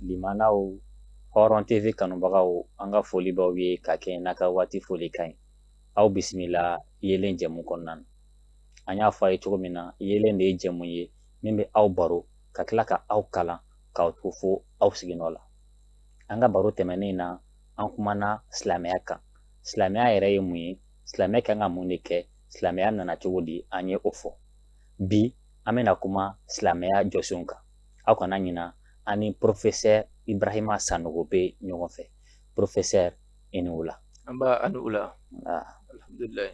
Limanaw Hɔrɔn TV kanubagaw an ka foli b'aw ye ka kɛɲɛ n'a ka waati folikan ye aw bisimila yeelen jɛmu kɔnɔna na an y'a fɔ a ye cogo min na yeelen de ye jɛmu ye min bɛ aw baro ka tila ka aw kalan k'aw to fo aw siginɔ la an ka baro tɛmɛnen na an kumana silamɛya kan silamɛya yɛrɛ ye mun ye silamɛya kan ka mun de kɛ silamɛya nana cogo di an ye o fɔ bi an bɛna kuma silamɛya jɔsenw kan aw kana ɲina an ni porofesɛri ibrahima sanogo bɛ ɲɔgɔn fɛ porofesɛri i ni wula nba a ni wula alhamdulilayi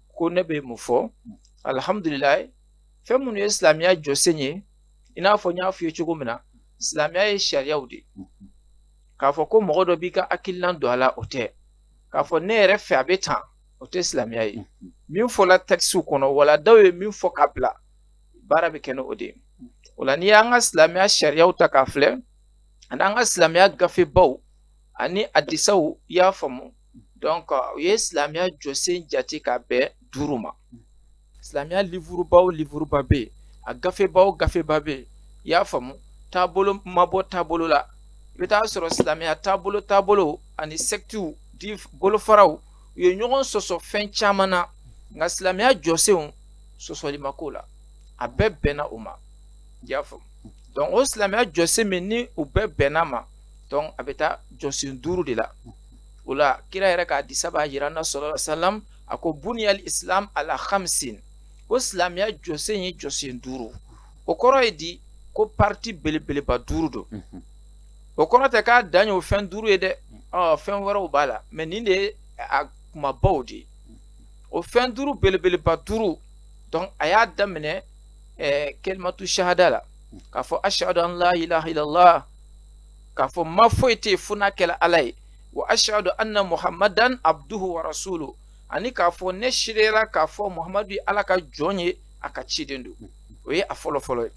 ko ne bɛ mun fɔ alihamudulilayi fɛn minnu ye silamɛya jɔsen ye i n'a fɔ n y'a f'i ye cogo min na silamɛya ye sariyaw de k'a fɔ ko mɔgɔ dɔ b'i ka hakililan don a la o tɛ k'a fɔ ne yɛrɛ fɛ a bɛ tan o tɛ silamɛya ye min fɔla tɛkisiw kɔnɔ wala dɔw ye min fɔ k'a bila baara bɛ kɛ ni o de ye o la n'i y'an ka silamɛya sariyaw ta k'a filɛ ani an ka silamɛya gafebaw ani hadisaw i y'a faamu donc u ye silamɛya jɔsen jate k'a bɛn duuru ma silamɛya livuruba o livuruba bɛ yen a gafeba o gafeba bɛ yen i y'a faamu taabolo ma bɔ taabolo la i bɛ t'a sɔrɔ silamɛya taabolo taabolo ani sɛkitiw di bolofaraw u ye ɲɔgɔn sɔsɔ fɛn caman na nka silamɛya jɔsenw sɔsɔli ma k'o la a bɛɛ bɛnna o ma i y'a faamu donc o silamɛya jɔsen min ni u bɛɛ bɛnna ma donc a bɛ taa jɔsen duuru de la o la kira yɛrɛ ka hadisa b'a jira an na sallallahu alayhi wa salam a ko buniyal islam ala hamsin ko silamɛya jɔsen ye jɔsen duuru o kɔrɔ ye di ko parti belebeleba duuru don mhm. o kɔrɔ tɛ k'a dan y'o fɛn duuru ye dɛ ɔ fɛn wɛrɛw b'a la mais nin de ye a kumabaw de ye o fɛn duuru belebeleba duuru donc a y'a daminɛ ɛɛ kelimatu sahada la k'a fɔ ashadu an la ilaha illallah k'a fɔ ma foyi tɛ fo n'a kɛla ala ye wa ashadu anna muhammadan abduhu wa rasulu ani k'a fɔ ne seereyara k'a fɔ muhammadu ye ala ka jɔn ye a ka ciden don o ye a fɔlɔ fɔlɔ ye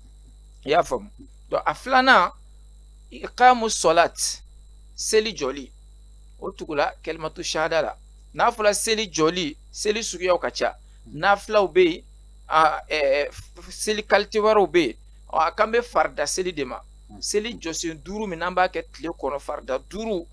i y'a faamu donc a filanan ikamu sɔlat seli jɔli o tugula kɛlimatu shahada la n'a fɔra seli jɔli seli suguyaw ka ca nafilaw bɛ yen seli kalite wɛrɛw bɛ yen a kan bɛ farida seli de ma mm. seli jɔsen duuru min n'an b'a kɛ tile kɔnɔ farida duuru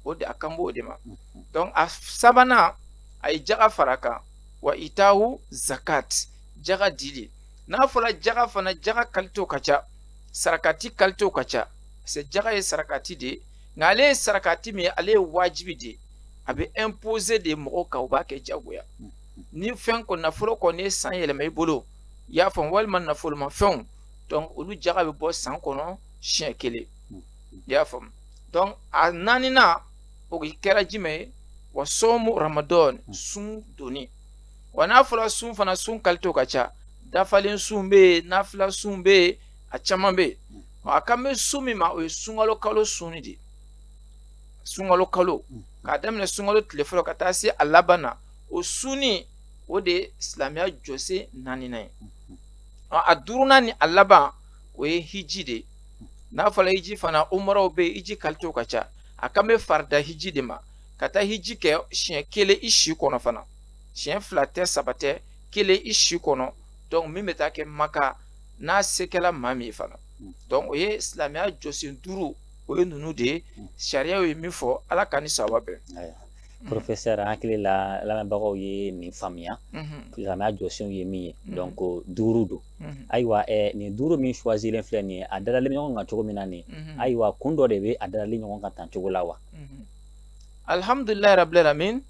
o de a kan b'o de ma mm-hmm. donc a sabanan a ye jaga fara kan wa itahu zakat jaga dili n'a fɔla jaga fana jaga kalitew ka ca sarakati kalitew ka ca parce jaga ye sarakati de ye nka ale ye sarakati min ye ale ye wajibi de ye a bɛ imposer de mɔgɔw kan u b'a kɛ jagoya mm-hmm. ni fɛn kɔni nafolo kɔni ye san yɛlɛma i bolo i y'a faamu walima nafolomafɛnw donc olu jaga bɛ bɔ san kɔnɔ siɲɛ kelen hmm. i y'a faamu donc a naaninan o kɛra jumɛn ye wa sɔmu ramadɔn hmm. sun donni wa n'a fɔra sun fana sun kalitew ka ca dafalen sun bɛ yen nafila sun bɛ yen a caman bɛ yen hmm. a kan bɛ sun min ma o ye sunkalo kalo sun de ye sunkalo kalo k'a daminɛ sunkalo tile fɔlɔ ka taa se a laban na o sunni o de ye silamɛya jɔsen naaninan ye a duurunan ni a laban o ye hiji de ye n'a fɔra hiji fana umaraw bɛ yen hiji kalitew ka ca a kan bɛ farida hiji de ma ka taa hiji kɛ siɲɛ kelen i si kɔnɔ fana siɲɛ fila tɛ saba tɛ kelen i si kɔnɔ donc min bɛ taa kɛ maka n'a se kɛla maa min ye fana donc o ye silamɛya jɔsen duuru o ye ninnu de ye sariyaw ye min fɔ ala k'an ni sawaba bɛn professeur an hakili la lamɛnbagaw ye nin faamuya silamɛya jɔsenw ye min ye donc duuru don ayiwa nin duuru min choisilen filɛ nin ye a dadalen bɛ ɲɔgɔn kan cogo min na nin ayiwa kun dɔ de bɛ a dadalen ɲɔgɔn kan tan cogo la wa alihamudulilayi rabil alamin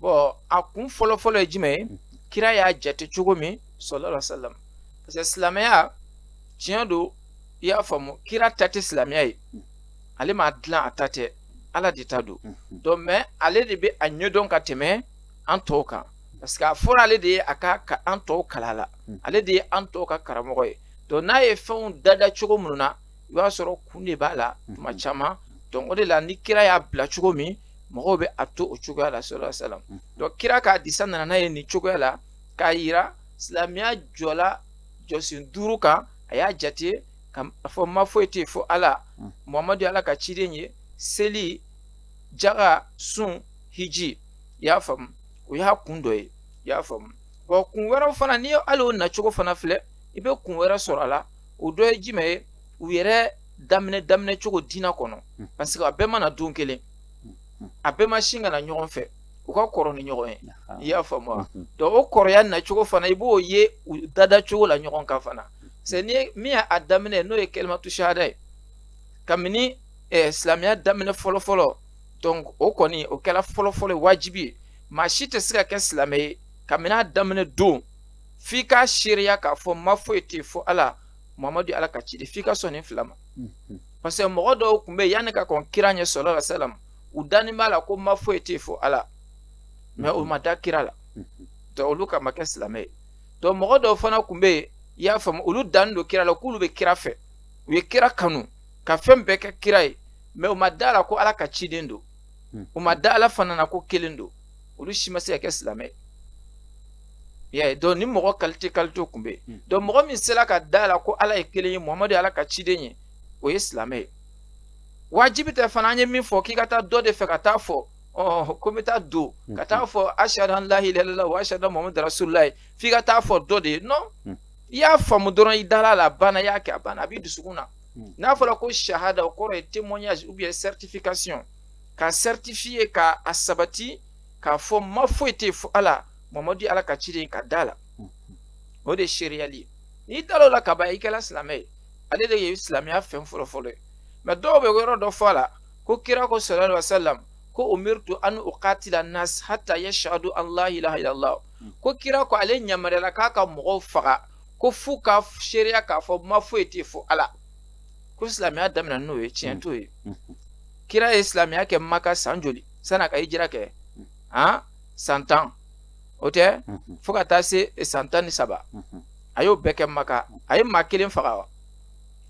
bon a kun fɔlɔ fɔlɔ ye jumɛn ye kira y'a jate cogo min sallallahu alaihi wasallam parce que silamɛya tiɲɛ don i y'a faamu kira ta tɛ silamɛya ye ale m'a dilan a ta tɛ ala de ta don mhm. donc mais ale de bɛ a ɲɛdɔn ka tɛmɛ an tɔw kan parce que a fɔra ale de ye a ka an tɔw kalan a la mhm. ale de ye an tɔw ka karamɔgɔ ye donc n'a ye fɛnw dada cogo minnu na i b'a sɔrɔ kun de b'a la mhm. tuma caman donc o de la ni kira y'a bila cogo min mɔgɔw bɛ a to o cogoya la sallallahu alaihi wasallam donc kira ka hadisa nana n'a ye nin cogoya la k'a yira silamɛya jɔla jɔsen duuru kan a y'a jate ka fɔ ma foyi tɛ fo ala mm. muhamadu ye ala ka ciden ye seli jaga sun hiji i y'a faamu o y'a kun dɔ ye i y'a faamu wa kun wɛrɛw fana n'i ye hali o nacogo fana filɛ i bɛ kun wɛrɛ sɔrɔ a la o dɔ ye jumɛn ye u yɛrɛ daminɛ daminɛ cogo diinɛ kɔnɔ mm. parce que a bɛɛ ma na don kelen mm. a bɛɛ ma sin ka na ɲɔgɔn fɛ u ka kɔrɔ ni ɲɔgɔn ye i y'a faamu wa mm-hmm. donc o kɔrɔya nacogo fana i b'o ye u dada cogo la ɲɔgɔn kan fana c'est nin min y'a daminɛ n'o ye kalimatu shahada ye kabini eh, silamɛya daminɛ fɔlɔfɔlɔ donc o kɔni o kɛra fɔlɔfɔlɔ ye wajibi ye maa si tɛ se ka kɛ silamɛ ye kabini a daminɛ don f'i k'a seereya k'a fɔ ma foyi tɛ fo ala mamadu ala ka ciden f'i ka sɔn nin fila ma mhm. parce que mɔgɔ dɔw tun bɛ yen yanni ka kɔn kira ɲɛ sallallahu alaihi wasallam u dannen b'a la ko ma foyi tɛ fo ala mais o mhm. ma da kira la mhm. donc olu ka ma kɛ silamɛ ye donc mɔgɔ dɔw fana kun bɛ yen i y'a faamu olu dannen don kira la k'olu bɛ kira fɛ u ye kira kanu ka fɛn bɛɛ kɛ kira ye mais u ma da la ko ala ka ciden don hmm. u ma da ala fana na ko kelen don olu si ma se ka kɛ silamɛ ye y'a ye donc nin mɔgɔ qualité qualité kun bɛ yen hmm. donc mɔgɔ min sera ka da la ko ala ye kelen ye muhamadu ye ala ka ciden ye o ye silamɛ ye wajibi tɛ fana an ye min fɔ k'i ka taa dɔ de fɛ ka taa fɔ ɔ ko n bɛ taa don ka taa fɔ ashhadu an la ilaha illallah wa ashhadu anna muhammadan rasulullahi f'i ka taa fɔ dɔ de ye non i y'a faamu dɔrɔn i dala la a banna i y'a kɛ a banna a b'i dusukun na n'a fɔra ko shahada o kɔrɔ ye témoignage ou bien certification ka certifier ka a sabati k'a fɔ ma foyi tɛ fo ala muhamadu ye ala ka ciden ka da la o de ye seereyali ye n'i dal'o la kaban i kɛra silamɛ ye ale de ye silamɛya fɛn fɔlɔ fɔlɔ ye mais dɔw bɛ yɔrɔ dɔ fɔ a la ko kira ko sallallahu alaihi wasallam ko umirtu an uqatila nas hatta yashhadu an la ilaha illallah ko kira ko ale yamaruyala k'a ka mɔgɔw faga ko f'u ka seereya k'a fɔ ma foyi tɛ fo ala ko silamɛya daminɛ n'o ye tiɲɛ t'o ye kira ye silamɛya kɛ maka san joli san'a ka hijira kɛ han san tan o tɛ fo ka taa se san tan ni saba a y'o bɛɛ kɛ maka a ye maa kelen faga wa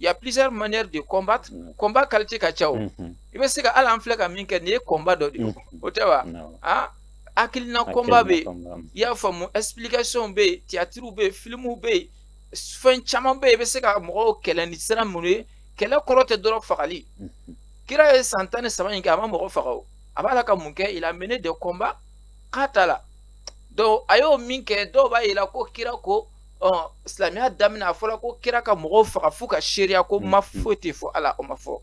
il y a plusieurs manières de combattre mm. combat qualité ka ca o mm-hmm. i bɛ se ka hali an filɛ ka min kɛ nin ye combat dɔ de ye mm-hmm. o tɛ wa a hakilina combat bɛ yen i y'a faamu explication bɛ yen théâtre bɛ yen filimu bɛ yen fɛn caman bɛ yen i bɛ se ka mɔgɔw kɛlɛ ni sira minnu ye kɛlɛ kɔrɔ tɛ dɔrɔn fagali mm-hmm. kira ye san tan ni saba in kɛ a ma mɔgɔ faga o a b'a la ka mun kɛ il a mené des combats k'a ta la donc a y'o min kɛ dɔw b'a yira ko kira ko ɔ silamɛya daminɛ a fɔra ko kira ka mɔgɔw faga f'u ka seereya ko ma foyi tɛ fo ala o ma fɔ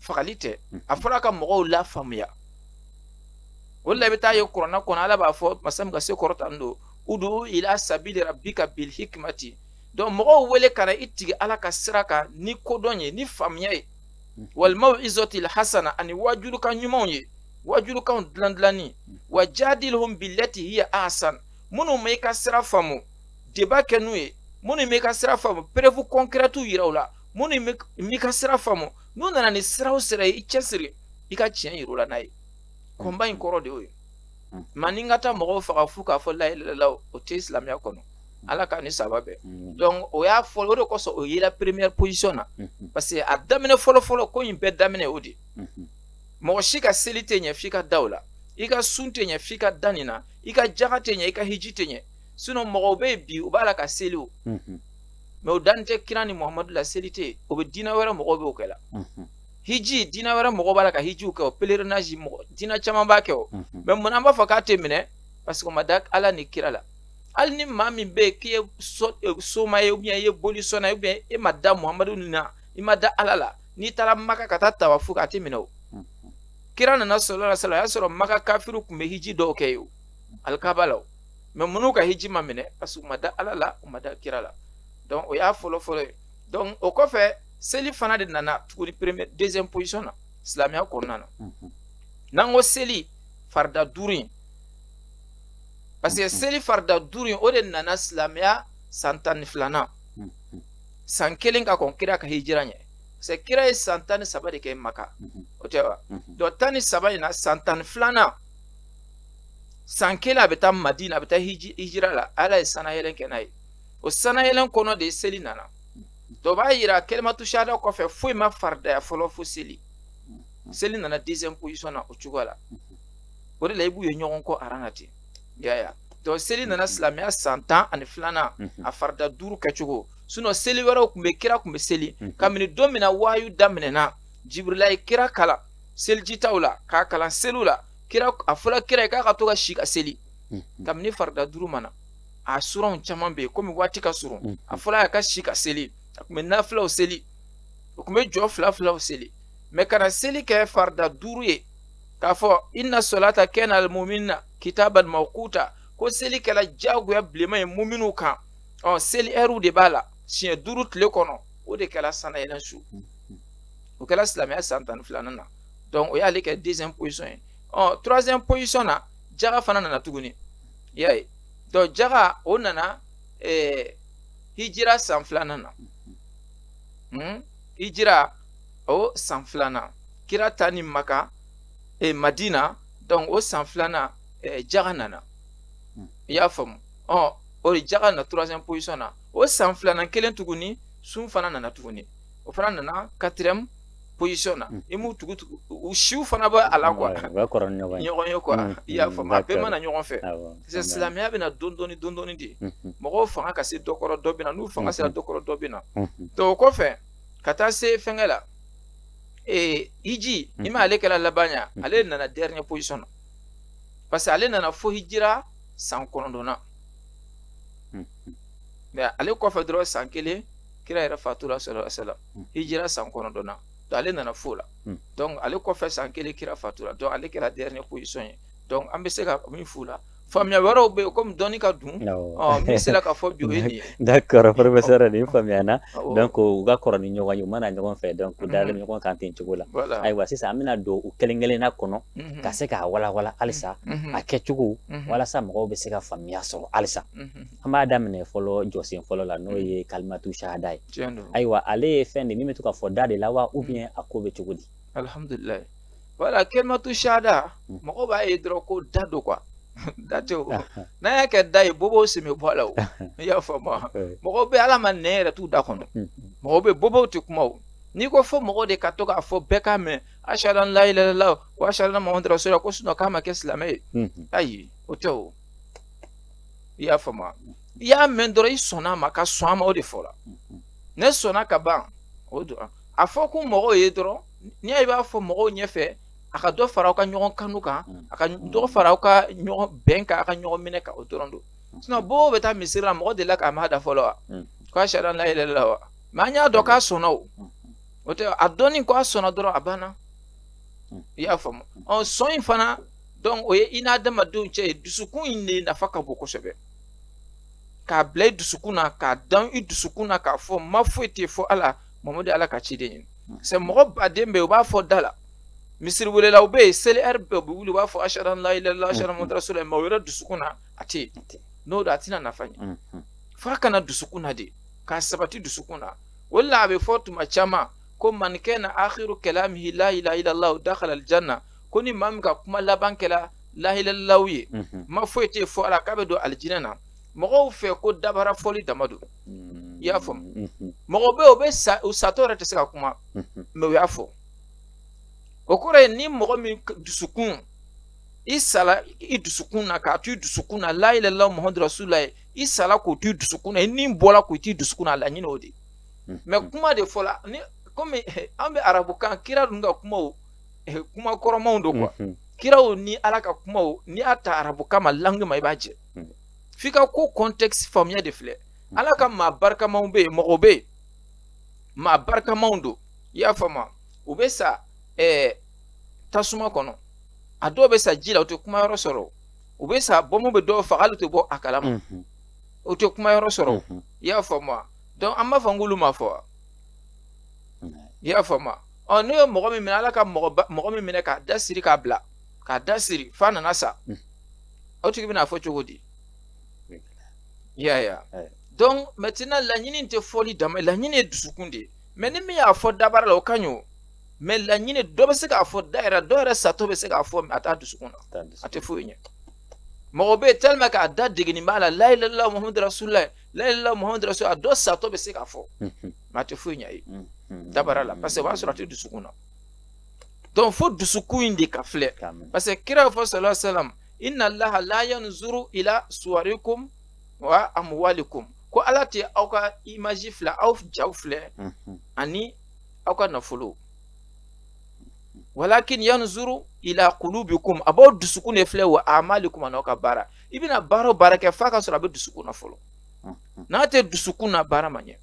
fagali tɛ a fɔra ka mɔgɔw lafaamuya o la i bɛ taa ye kuranɛ kɔnɔ ala b'a fɔ masa min ka se kɔrɔtalen don udu ila sabili rabbika bil hikmati donc mɔgɔw wele ka na i tigi ala ka sira kan ni kodɔn ye ni faamuya ye wal maw'izatil hasana ani waajulikan ɲumanw ye waajulikanw dilan dilannen wa jadilhum billati hiya ahsan minnu ma i ka sira faamu débat kɛ n'u ye minnu ma i ka sira faamu preuve concrètew yira u la minnu ma i ka sira faamu n'u nana ni siraw sira ye i cɛsiri i ka tiɲɛ yir'u la n'a ye combat in kɔrɔ de y'o ye mais ni ka taa mɔgɔw faga fu k'a fɔ la ilaha illallah o tɛ silamɛya kɔnɔ ala ka ni saba bɛɛ donc o y'a fɔ o de kosɔn o yera première position na parce que a daminɛ fɔlɔfɔlɔ ko in bɛɛ daminɛ o de mɔgɔ si ka seli tɛ ɲɛ f'i ka da o la i ka sun tɛ ɲɛ f'i ka da nin na i ka jaga tɛ ɲɛ i ka hiji tɛ ɲɛ sinon mɔgɔw bɛ yen bi u b'a la ka seli o mais o danni tɛ kira ni muhamadu la seli tɛ yen o bɛ diinɛ wɛrɛ mɔgɔw bɛ o kɛ la hiji diinɛ wɛrɛ mɔgɔw b'a la ka hijiw kɛ o pèlerinage mɔgɔ diinɛ caman b'a kɛ o mais mun na an b'a fɔ k'a tɛ minɛ parce que o ma da ala ni kira la hali ni maa min bɛ yen k'i ye soma ye ou bien i ye boli sɔnna ou bien e ma da muhamadu na i ma da ala la n'i taara maka ka taa tawafu kɛ a tɛ minɛ o kira nana sallallahu alaihi wasallam a y'a sɔrɔ maka kafiru tun bɛ hiji dɔw kɛ yen o alikaba la o mais minnu ka hiji ma minɛ parce que u ma da ala la u ma da kira la donc o y'a fɔlɔ fɔlɔ ye donc o kɔfɛ seli fana de nana tuguni premier deuxième position na silamɛya kɔnɔna na n'an ko seli farida duuru in parce que seli farida duuru in o de nana silamɛya san tan ni filanan san kelen ka kɔn kira ka hijira ɲɛ parce que kira ye san tan ni saba de kɛ maka o tɛ wa donc tan ni saba in na san tan ni filanan san kelen a bɛ taa madina a bɛ taa hijira la ala ye sanayɛlɛn kɛ n'a ye o sanayɛlɛn kɔnɔ de seli nana dɔ b'a yira kalimatu shahada kɔfɛ foyi ma faridaya fɔlɔ fo seli seli nana deuxième position na o cogoya la o de la i b'u ye ɲɔgɔn kɔ aran na ten yaya donc seli nana silamɛya san tan ani filanan a farida duuru kɛcogo sinon seli wɛrɛw tun bɛ kira tun bɛ seli mhm. kabini don min na wahayu daminɛna jibirila ye kira kalan selijitaw la k'a kalan seliw la kira a fɔla kira ye k'a ka to ka si ka seli mhm. kabini farida duuru ma na a suranw caman bɛ yen komi waati ka surun mhm. a fɔla a ka si ka seli a tun bɛ nafilaw seli o tun bɛ jɔ fila filaw seli mais ka na seli kɛ farida duuru ye k'a fɔ inna solata kanat alal muminina kitaban mawquta ko seli kɛla jagoya bilenma ye muminu kan ɔ seli ɛriw de b'a la siɲɛ duuru tile kɔnɔ o de kɛla sanayɛlɛn su o kɛla silamɛya san tan ni filanan na donc o y'ale kɛ deuxième position ye ɔ troisième position na jaga fana nana tuguni y'a ye donc jaga o nana ɛɛ hijira san filanan na hmm? hijira o san filanan kira taani maka eh, madina donc o san filanan eh, jaga nana i y'a faamu ɔ o de jaga na troisième position na o san filanan kelen tuguni sun fana nana tuguni o fana nana quatrième position na i m'u tugu tugu u siw fana bɛ a la quoi ɲɔgɔn ye quoi i y'a faamu a bɛɛ mana ɲɔgɔn fɛ silamɛya bɛna don dɔɔni don dɔɔni de mɔgɔw fanga ka se dɔ kɔrɔ dɔ bɛ na n'u fanga sera dɔ kɔrɔ dɔ bɛ na o kɔfɛ ka taa se fɛnkɛ la ee hiji ma ale kɛra laban ye ale nana dernière position na parce que ale nana fo hijira san kɔnɔntɔnnan mais ale kɔfɛ dɔrɔn san kelen kira yɛrɛ fatura sallallahu alaihi wasallam hijira san kɔnɔntɔnnan donc ale nana fo la donc ale kɔfɛ san kelen kira fatura donc ale kɛra dernière position ye donc an bɛ se ka min f'u la faamuya wɛrɛw bɛ yen komi dɔnni ka dun min sera ka fɔ bi o ye nin ye d'accord professeur nin faamuya na donc u ka kɔrɔ ni ɲɔgɔn ye u mana ɲɔgɔn fɛ donc u dalen ɲɔgɔn kan ten cogo la ayiwa sisan an bɛna don u kelen kelenna kɔnɔ ka se k'a walawala halisa a kɛcogo walasa mɔgɔw bɛ se ka faamuya sɔrɔ halisa an b'a daminɛ fɔlɔ jɔsen fɔlɔ la n'o ye kalimatu shahada ye ayiwa ale ye fɛn de min bɛ to ka fɔ da de la wa ou bien a ko bɛ cogo di alhamdulillahi voilà kalimatu shahada mɔgɔw b'a ye dɔrɔn ko da don quoi da tɛ o n'a y'a kɛ da ye bobow sen bɛ bɔ a la o i y'a faamu mɔgɔw bɛ ala ma nɛn yɛrɛ t'u da kɔnɔ mɔgɔw bɛ bobow tɛ kuma o n'i ko fo mɔgɔ de ka to k'a fɔ bɛɛ k'a mɛn ashhadu an la ilaha illallah wa ashhadu anna muhammadan rasulullah ko sinon k'a ma kɛ silamɛ ye ayi o tɛ o i y'a faamu i y'a mɛn dɔrɔn i sɔnna a ma ka sɔn a ma o de fɔra ne sɔnna ka ban o don a fɔ kun mɔgɔw ye dɔrɔn n'i y'a i b'a fɔ mɔgɔw ɲɛfɛ a ka dɔ fara aw ka ɲɔgɔn kanu kan a ka dɔ fara aw ka ɲɔgɔn bɛn kan a ka ɲɔgɔn minɛ kan o dɔrɔn don sinon bobo bɛ taa misiri la mɔgɔ delila k'a mɛn a da fɔlɔ wa ko ashhadu an la ilaha illallah wa mais an y'a dɔn k'a sɔnna o o tɛ a dɔnni ko a sɔnna dɔrɔn a banna hmm. i y'a faamu ɔ sɔn in fana donc o ye i n'adamadenw cɛ ye dusukun in de nafa ka bon kosɛbɛ k'a bila i dusukun na k'a dan i dusukun na k'a fɔ ma foyi tɛ fo ala mamadu ye ala ka ciden ye hmm. c'est mɔgɔ baden bɛ yen u b'a fɔ da la misiri welelaw bɛ yen seli heure bɛɛ u bɛ wuli u b'a fɔ ashhadu an la ilaha illallah ashhadu anna muhammadan rasulullah mais o yɛrɛ dusukun na a tɛ yen n'o don a tɛna nafa ɲɛ f'a ka na dusukun na de k'a sabati dusukun na o la a bɛ fɔ tuma caman ko man kana akhiru kalamihi la ilaha illallah dakhala aljanna ko ni maa min ka kuma laban kɛra la ilaha illallah ye mhm. ma foyi tɛ fo ala k'a bɛ don alijinɛ na mɔgɔw fɛ ko dabara fɔli dama don mhm. i y'a faamu mhm. mɔgɔ bɛ yen o bɛ sa u satɔ yɛrɛ tɛ se ka kuma mais u y'a fɔ o kɔrɔ ye ni mɔgɔ min dusukun i sala i dusukun na k'a to i dusukun na la ilaha illallah muhammadu rasulullah ye i sala k'o t'i dusukun na i ni bɔla k'o t'i dusukun na a laɲini o de hmm. mais kuma de fɔla ni comme eh, an bɛ arabukan kira dun ka kumaw eh, kuma kɔrɔmanw don quoi hmm, hmm. kiraw ni ala ka kumaw n'i y'a ta arabukan ma langue ma i b'a jɛ f'i ka ko contexte faamuya de filɛ ala ka maa barikamaw bɛ yen mɔgɔ bɛ yen maa barikamaw don i y'a faamu u bɛ sa eh, tasuma kɔnɔ a dɔw bɛ sa ji la u tɛ kuma yɔrɔ sɔrɔ u bɛ sa bɔnmu bɛ dɔw faga hali u tɛ bɔ a kalama u tɛ kuma yɔrɔ sɔrɔ i y'a faamu donc an b'a fɔ n k'olu m'a fɔ i y'a faamu ɔ n'u ye mɔgɔ min minɛ wala ka mɔgɔ min minɛ k'a da siri k'a bila k'a da siri f'a nana sa o tigi bɛna a fɔ cogo di i y'a ye donc maintenant laɲini tɛ fɔli dama laɲini ye dusukun de ye mais ni min y'a fɔ dabara la o ka ɲi o mais laɲini dɔ bɛ se k'a fɔ da yɛrɛ dɔ yɛrɛ satɔ bɛ se k'a fɔ a t'a dusukun na a tɛ foyi ɲɛ mɔgɔ bɛ yen tellement k'a da degeni b'a la layilala muhamadu rasulila layilala muhamadu rasul a dɔ satɔ bɛ se k'a fɔ mais a tɛ foyi ɲɛ ye dabara la parce que o b'a sɔrɔ a tɛ dusukun na donc fo dusukun in de ka filɛ parce que kira fɔ sallallahu alaihi wasallam inna allaha la yanzuru ila suwarikum wa amwalikum ko ala tɛ aw ka image filɛ aw jaw filɛ ani aw ka nafolo walakin yanzuru ila qulubikum a b'aw dusukun de filɛ wa amalikum an'aw ka baara i bɛna baara o baara kɛ f'a ka sɔrɔ a bɛ dusukun na fɔlɔ n'a tɛ dusukun na baara ma ɲɛ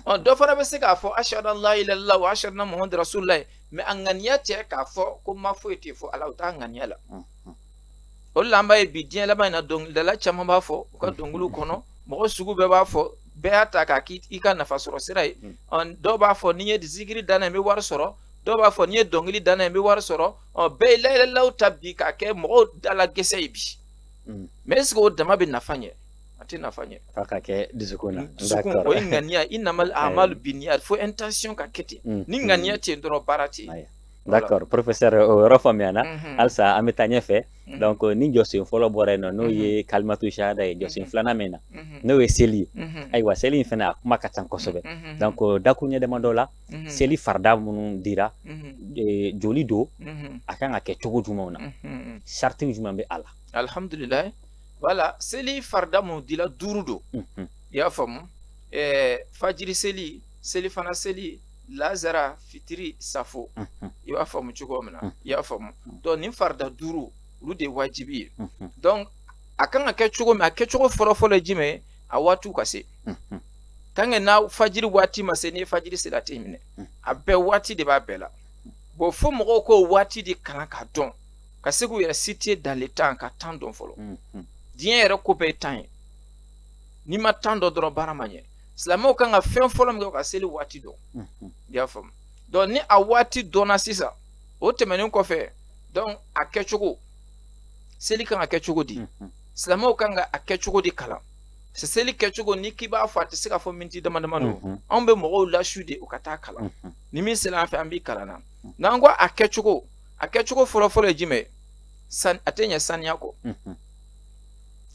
ɔ dɔ fana bɛ se k'a fɔ ashadu an la ilaha illallah wa ashadu anna muhamadu rasulullah mais a ŋaniya tɛ k'a fɔ ko ma foyi tɛ fo ala o t'a ŋaniya la o de la an b'a ye bi diɲɛ laban in na dɔnkilidala caman b'a fɔ u ka dɔnkiliw kɔnɔ mɔgɔ sugu bɛɛ b'a fɔ bɛɛ y'a ta k'a k'i ka nafa sɔrɔ sira ye dɔw b'a fɔ ni n ye zikiri da n'a ye n bɛ wari sɔrɔ dɔw b'a fɔ ni n ye dɔnkili da n'a ye n bɛ wari sɔrɔ bɛɛ ye layilala ta bi k'a kɛ mɔgɔw da la gɛsɛ ye bi mais est ce que o dama bɛ nafa ɲɛ a tɛ nafa ɲɛ f'a ka kɛ dusukun na dusukun o ye ŋaniya innamal amalu biniya fo intention ka kɛ ten ni ŋaniya tɛ yen dɔrɔn baara tɛ yen d'accord professeur o yɔrɔ faamuyana halisa an bɛ taa ɲɛfɛ donc ni jɔsen fɔlɔ bɔra yen nɔ n'o ye kalimatu shahada ye jɔsen filanan min na n'o ye seli ye ayiwa seli in fana a kuma ka ca kosɛbɛ donc dakuruɲɛ damadɔ la seli farida minnu dira joli don a kan ka kɛ cogo jumɛnw na sariti jumɛn bɛ a la alihamudulilayi voilà seli farida minnu dira duuru don i y'a faamu fajiri seli selifana seli lazara fitiri safo i b'a faamu cogo min na i y'a faamu donc nin farida duuru olu de ye wajibi ye donc a kan ka kɛ cogo min a kɛcogo fɔlɔfɔlɔ ye jumɛn ye a waatiw ka se tant que n'a fajiri waati ma se ni fajiri sera a tɛ minɛ a bɛɛ waati de b'a bɛɛ la bon fo mɔgɔw k'o waati de kalan k'a dɔn ka se k'u yɛrɛ situer dans le temps ka temps dɔn fɔlɔ diɲɛ yɛrɛ ko bɛɛ ye temps ye n'i ma temps dɔn dɔrɔn baara ma ɲɛ silamɛw kan ka fɛn fɔlɔ min kɛ ka seli waati dɔn mhm. i y'a faamu donc ni a waati dɔnna sisan o tɛmɛnen kɔfɛ donc a kɛcogo seli kan ka kɛ cogo di mhm. silamɛw kan ka a kɛ cogo di kalan seli kɛcogo n'i k'i b'a fɔ a tɛ se ka fɔ miniti dama dama don mhm. anw bɛ mɔgɔw lasu de u ka taa kalan ni min sera an fɛ an b'i kalan na n'an ko a kɛcogo a kɛcogo fɔlɔfɔlɔ ye jumɛn ye a tɛ ɲɛ saniya kɔ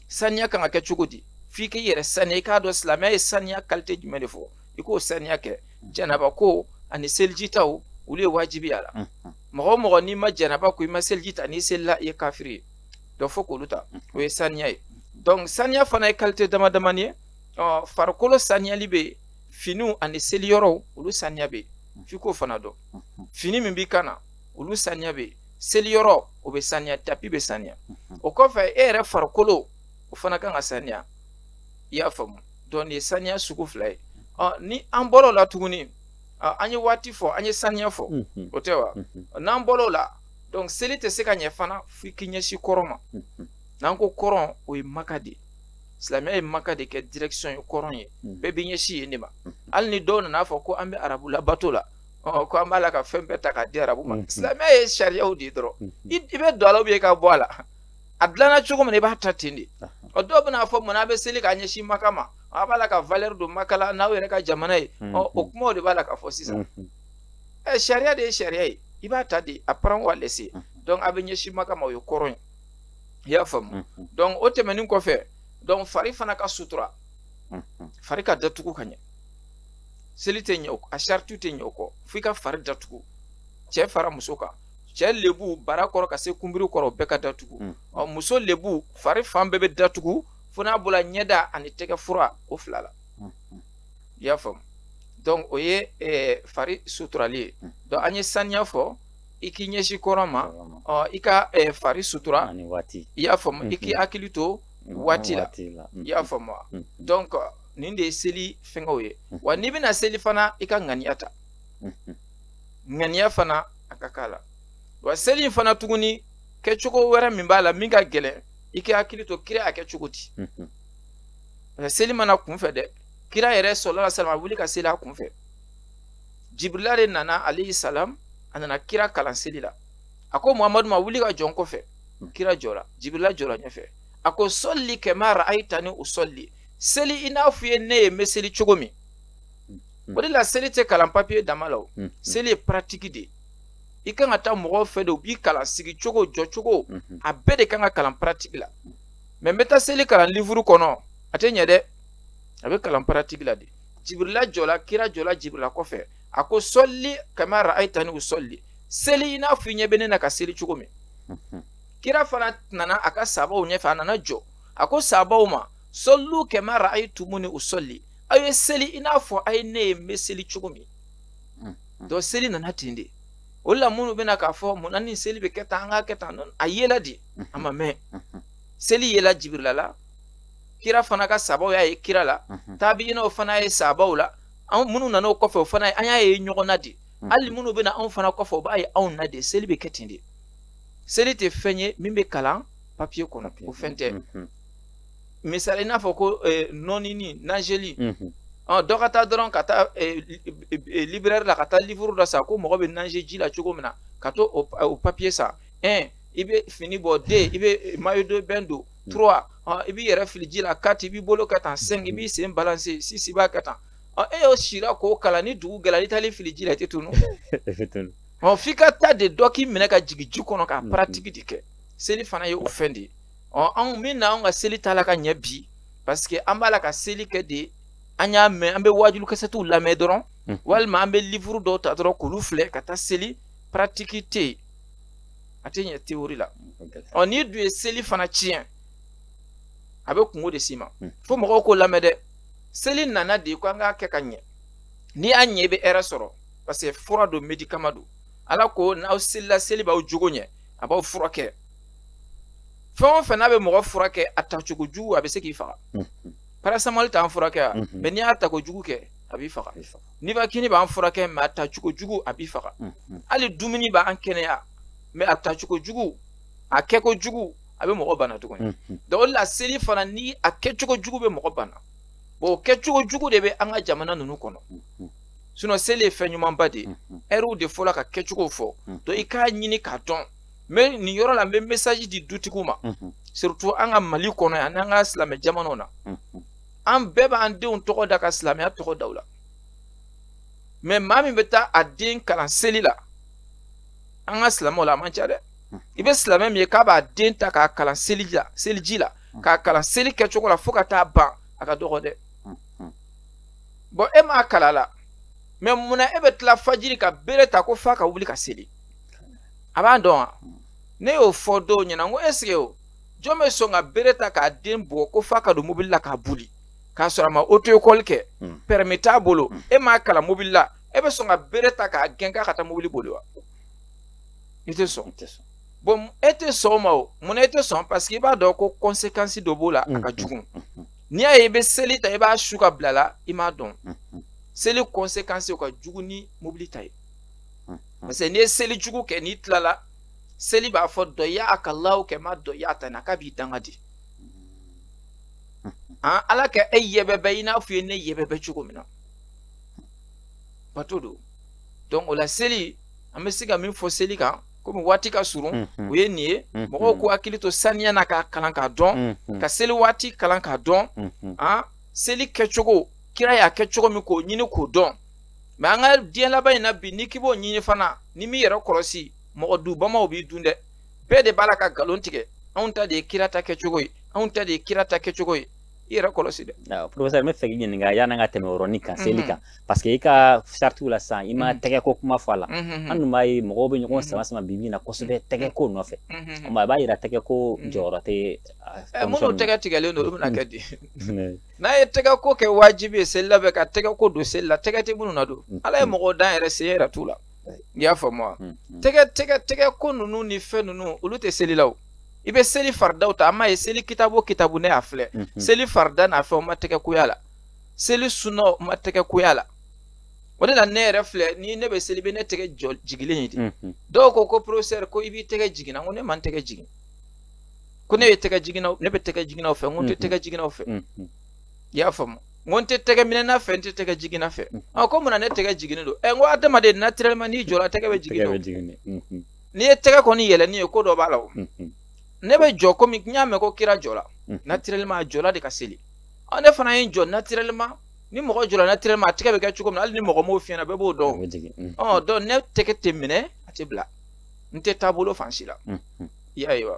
saniya kan ka kɛ cogo di f'i k'i yɛrɛ saniya i k'a dɔn silamɛya ye saniya qualité jumɛn de fɔ i k'o saniya kɛ janaba ko ani seliji taw olu ye wajibi y'a la mɔgɔ o mɔgɔ n'i ma janaba ko i ma seliji ta n'i selila i ye kafiri ye donc fo k'olu ta o ye saniya ye donc saniya fana ye qualité dama damani ye ɔ farikolo saniyali bɛ yen finiw ani seliyɔrɔw olu saniya bɛ yen f'i k'o fana dɔn fini min b'i kan na olu saniya bɛ seliyɔrɔ o bɛ saniya tapi bɛ saniya mhm. o kɔfɛ e yɛrɛ farikolo o fana kan ka saniya i y'a faamu donc nin ye saniya sugu fila ye ni an bɔra o la tuguni an ye waati fɔ an ye saniya fɔ mhm. o tɛ wa mhm. n'an bɔra o la donc seli tɛ se ka ɲɛ fana fo i k'i ɲɛsin kɔrɔn ma n'an ko kɔrɔn o ye maka de ye silamɛya ye maka de kɛ direction ye kɔrɔn ye bɛɛ b'i ɲɛsin yen de ma hali ni dɔw nana fɔ ko an bɛ arabu labato la ɔ ko an b'a la ka fɛn bɛɛ ta k'a di arabu ma silamɛya ye sariyaw de ye dɔrɔn i bɛ don a la ou bien i ka bɔ a la a dilanna cogo min na i b'a ta ten de ɔ dɔw bɛna fɔ munna a bɛ seli k'a ɲɛsin maka ma a b'a la ka valeur don maka la n'aw yɛrɛ ka jamana ye ɔ o kumaw de b'a la ka fɔ sisan ɛ sariya de ye sariya ye i b'a ta de à prendre ou à laisser donc a bɛ ɲɛsin maka ma o ye kɔrɔn ye i y'a faamu donc o tɛmɛnen kɔfɛ donc fari fana ka sutura fari ka datugu ka ɲɛ seli tɛ ɲɛ a saritiw tɛ ɲɛ o kɔ f'i ka fari datugu cɛ fara muso kan cɛ lebu bara kɔrɔ ka se kunbiri kɔrɔ bɛɛ ka datugu mm. ɔ muso lebu fari fan bɛɛ bɛ datugu fo n'a bɔra ɲɛda ani tɛgɛ fura o fila la mm. i y'a faamu donc o ye eh, fari suturali ye mm. donc an ye saniya fɔ i k'i ɲɛsin kɔrɔn ma ɔ i ka eh, fari sutura i y'a faamu i k'i mm-hmm. hakili to waati la i y'a faamu wa donc nin de ye seli fɛngɛw ye mhm. wa n'i bɛna seli fana i ka ŋaniya ta mhm. ŋaniya fana a ka k'a la wa seli in fana tuguni kɛcogo wɛrɛ min b'a la min ka gɛlɛn i k'i hakili to kira a kɛ cogo di mhm. seli ma na kunfɛ dɛ kira yɛrɛ sallallahu alayhi wasallam ma wuli ka seli a kunfɛ jibirila de nana alayhi salam a nana kira kalan seli la a ko muhamadu ma wuli ka jɔ n kɔfɛ kira jɔra jibirila jɔra ɲɛfɛ a ko solli kama ra'aytani usolli seli i n'a fɔ i ye ne ye n bɛ seli cogo min hmm. o de la seli tɛ kalan papiye dama la o hmm. seli ye paratiki de ye i kan ka taa mɔgɔw fɛ de u b'i kalan sigi cogo jɔ cogo hmm. a bɛɛ de kan ka kalan paratiki la mɛ n bɛ taa seli kalan livuru kɔnɔ a tɛ ɲɛ dɛ a bɛ kalan paratiki la de jibirila jɔla kira jɔla jibirila kɔfɛ a ko solli kama ra'aytani usolli seli i n'a fɔ i ɲɛ bɛ ne na ka seli cogo min kira fana nana a ka sabaw ɲɛfɛ a nana jɔ a ko sabaw ma sollu kama ra'aytumuni usolli aw ye seli i n'a fɔ a ye ne ye n bɛ seli cogo min mm, mm. donc seli nana ten de o la minnu bɛna k'a fɔ mun na nin seli bɛ kɛ tan an k'a kɛ tan a yela de mm, a ma mɛn seli yela jibirila la kira fana ka sabaw y'a ye kira la taabiyinaw fana ye sabaw la an minnu nana o kɔfɛ o fana an y'a ye ɲɔgɔn na de hali minnu bɛna anw fana kɔfɛ o b'a ye anw na de seli bɛ kɛ ten de seli tɛ fɛn ye min bɛ kalan papiye kɔnɔ o fɛn tɛ misali i n'a fɔ ko eh, nɔnini nazeli mhm. dɔ ka taa dɔrɔn ka taa eh, eh, librɛri la ka taa livuru dɔ san ko mɔgɔ bɛ naze ji la cogo min na ka taa o papiye san un i bɛ fini bɔ deux i bɛ maillot de bain don mhm. trois i b'i yɛrɛ fili ji la quatre i b'i bolo kɛ tan cinq i b'i sen balanse six i b'a kɛ tan e y'o sira k'o kalan ni dugu gɛla i taala i fili ji la i tɛ tunun f'i ka taa de dɔ k'i minɛ ka jigin ji kɔnɔ ka paratiki de kɛ seli fana ye o fɛn de ye ɔ anw mun na anw ka seli t'a la ka ɲɛ bi parce que an b'a la ka seli kɛ de an y'a mɛn an bɛ waajuli kasɛtiw lamɛn dɔrɔn hmm. walima an bɛ livuru dɔw ta dɔrɔn k'olu filɛ ka taa seli paratiki tɛ yen a tɛ ɲɛ teori la ɔ n'i dun ye seli fana tiɲɛ a bɛ kunko de s'i ma hmm. fo mɔgɔw k'o lamɛn dɛ seli nana de ko an k'a kɛ ka ɲɛ n'i y'a ɲɛ i bɛ hɛrɛ sɔrɔ parce que fura don medikama don ala ko n'aw selila seli b'aw jogo ɲɛ a b'aw furakɛ fɛn o fɛn n'a bɛ mɔgɔ furakɛ a tacogo jugu a bɛ se k'i faga parasetamɔli t'an furakɛ wa mɛ n'i y'a tako jugu kɛ a b'i faga nivakini b'an furakɛ mɛ a tacogo jugu a b'i faga hali dumuni b'an kɛnɛya mɛ a tacogo jugu a kɛko jugu a bɛ mɔgɔ bana tuguni donc o de la seli fana ni a kɛcogo jugu bɛ mɔgɔ bana bon o kɛcogo jugu de bɛ an ka jamana ninnu kɔnɔ sinɔn seli ye fɛn ɲumanba de ye ɛriw de fɔra k'a kɛcogo fɔ donc i k'a ɲini k'a dɔn mais nin yɔrɔ la n bɛ message di dutigiw ma surtout an ka mali kɔnɔ yan n'an ka silamɛ jamanaw na an bɛɛ b'an denw tɔgɔ da ka silamɛya tɔgɔ da u la mais maa min bɛ taa a den kalan seli la an ka silamɛw la a man ca dɛ i bɛ silamɛ min ye k'a b'a den ta k'a kalan seliji la k'a kalan seli kɛcogo la fo ka taa ban a ka dɔgɔ dɛ bon e m'a kalan a la mais munna e bɛ tila fajiri ka bere ta ko f'a ka wuli ka seli a b'a dɔn wa ne y'o fɔ dɔw ɲɛna n ko est-ce que o jɔn bɛ sɔn ka bere ta k'a den bugɔ ko f'a ka don mobili la k'a boli k'a sɔrɔ a ma auto école kɛ hmm. permis t'a bolo hmm. e m'a kalan mobili la e bɛ sɔn ka bere ta k'a gɛn k'a ka taa mobili boli wa i tɛ sɔn bon e tɛ sɔn o ma o mun na e tɛ sɔn parce que i b'a dɔn ko conséquence dɔ b'o la a ka hmm. jugu n'i y'a ye i bɛ seli ta i b'a su ka bila la i m'a dɔn seli conséquence o ka jugu ni mobili ta ye hmm. parce que n'i ye seli jugu kɛ n'i tilala seli b'a fɔ dayaaka lahu kama dayatani k'a b'i danga di hmm. an ala ka e yɛbɛbɛ i n'a fɔ i ye ne yɛbɛbɛ cogo min na bato don donc o la seli an bɛ se ka min fɔ seli kan komi waati ka surun mhm. o ye nin ye mhm. mɔgɔw k'u hakili to saniya na k'a kalan k'a dɔn mhm. ka seli waati kalan k'a dɔn an ah, seli kɛcogo kira y'a kɛ cogo min k'o ɲini k'o dɔn mais an ka diɲɛ laban in na bi n'i k'i b'o ɲini fana n'i m'i yɛrɛ kɔlɔsi mɔgɔ dubamaw b'i dun dɛ bɛɛ de b'a la ka nkalon tigɛ anw ta de ye kira ta kɛcogo ye anw ta de ye kira ta kɛcogo ye i yɛrɛ kɔlɔsi dɛ professeur n bɛ fɛ k'i ɲininka yan'an ka tɛmɛ yɔrɔni kan seli kan parce que i ka saritiw la sisan i ma tɛgɛ ko kuma fɔ a la an dun b'a ye mɔgɔw bɛ ɲɔgɔn sama sama bi bi in na kosɛbɛ tɛgɛ ko nɔfɛ a b'a yira tɛgɛ ko jɔyɔrɔ tɛ minnu tɛgɛ tigɛlen don olu bɛna kɛ di n'a ye tɛgɛ ko kɛ wajibi ye seli la bɛ ka tɛgɛ ko don seli la tɛgɛ tɛ minnu na don mm. ala ye mm. mɔgɔw dan yɛrɛ sen yɛrɛ t'u la i y'a faamu wa mm, tɛgɛ tɛgɛ tɛgɛ ko ninnu ni fɛn ninnu olu tɛ seli la o i bɛ seli faridaw ta an m'a ye seli kitabu kitabu ne y'a filɛ mm-hmm. seli farida n'a fɛn o ma tɛgɛ ko y'a la seli sunna o ma tɛgɛ ko y'a la o de la ne yɛrɛ filɛ ni ne bɛ seli i bɛ ne tɛgɛ jigilen ye de mm-hmm. dɔw ko ko professeur ko i b'i tɛgɛ jigin na ko ne ma n tɛgɛ jigin ko ne ye tɛgɛ jiginnaw ne bɛ tɛgɛ jiginnaw fɛ n ko n tɛ tɛgɛ jiginnaw fɛ i y'a faamu n ko n tɛ tɛgɛ minɛna fɛ n tɛ tɛgɛ jiginna fɛ ɔ ko munna ne tɛgɛ jiginnen don ɛ n ko adamaden naturellement n'i jɔra tɛgɛ bɛ jigin don n'i ye tɛgɛ kɔni yɛlɛnnen ye ko dɔ b'a la o ne bɛ jɔ komi n y'a mɛn ko kira jɔra naturellement a jɔra de ka seli ɔ ne fana ye n jɔ naturellement ni mɔgɔ jɔra naturellement a tɛgɛ bɛ kɛ cogo min na hali ni mɔgɔ m'o f'i ɲɛna bɛɛ b'o dɔn ɔ donc ne tɛgɛ tɛ minɛ a tɛ bila n tɛ taabolo fan si la i ayiwa